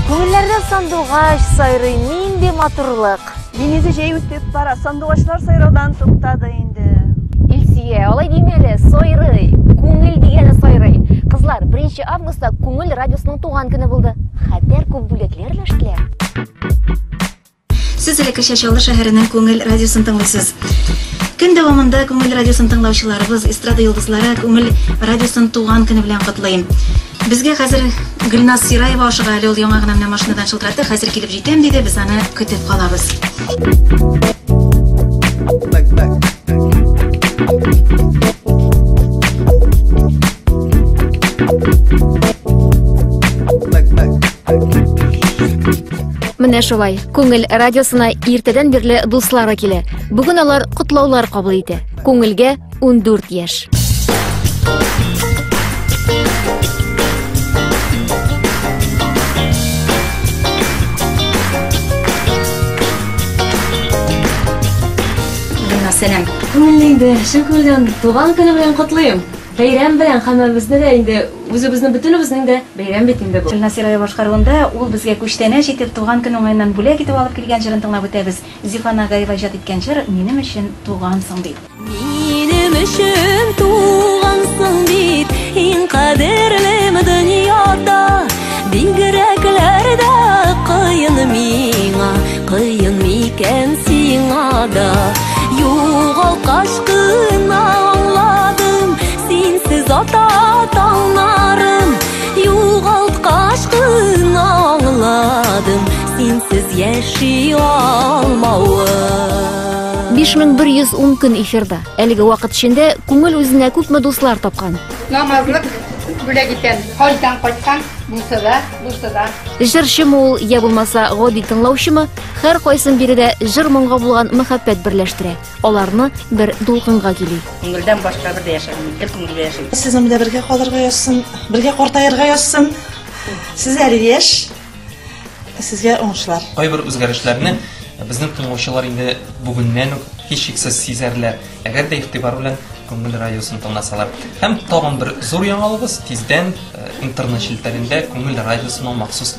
Күңелләрдә сандугач сайрый, нинди матурлык. Динизі жай өстеп бара, сандугачлар сайраудан туктады инде. Илсия, алай димәле, сайрый. Күңел дигәне сайрый. Кызлар, 1 августта Күңел радиосының туган көне булды. Хәтәр күп бүләкләр өләштеләр. Сез элеккечә Чаллы шәһәренең Күңел радиосын тыңлыйсыз. Көн дәвамында Күңел радиосын тыңлаучыларыбыз, эстрада йолдызлары Күңел радиосын туган көне белән котлый. Безгә хәзер Гөлназ Сираева ашыга әле ул яңа гына менә машинадан шылтыратты, хәзер килеп җитәм диде, без аны көтеп калабыз. Менә шулай. Күңел радиосына иртәдән бирле дуслары килә. Бүген алар котлаулар кабул итә. Күңелгә 14 яшь. Сәлам. Күңелле инде. Шөкердән туган көне белән котлыйм. Бәйрәм белән һәммәбезне дә инде, үзебезнең бөтенебезнең дә бәйрәм бит инде бу. Илназ Сираев башкаруында ул безгә күчтәнәч итеп, туган көн уңаеннан бүләк итеп алып килгән җырын тыңлап үтәбез. Зифа Нагаева иҗат иткән җыр Минем өчен тугансың бит. Минем өчен тугансың бит, иң кадерлем дөньяда, Бигрәкләрдә кыен миңа, кыен микән сиңа да, югалткач, яши алмавы 5110 көн эфирда. Әлеге вакыт эчендә күңел үзенә күпме дуслар тапкан. Намазлык бүләк иткән, хаҗдан кайткан, булса да, булса да. Җырчымы ул, я булмаса, гади тыңлаучымы, һәр кайсын биредә җыр моңга булган мәхәббәт берләштерә. Аларны бер дулкынга кили. Күңелдән башка бер дә яшәмим, бер күңел дә яшим. Сезнең белән бергә калырга язсын, бергә картаерга язсын. Сез әле яшь. Сезгә уңышлар. Кайбер үзгәрешләрне безнең тыңлаучылар инде бүгеннән үк һичшиксез сизәрләр, әгәр дә игътибар белән Күңел радиосын тыңласалар. Һәм тагын бер зур яңалыгыбыз, тиздән интернет челтәрендә Күңел радиосының махсус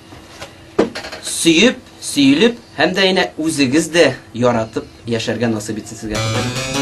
сөеп, сөелеп һәм дә янә үзегез дә яратып яшәргә насыйп итсен сезгә.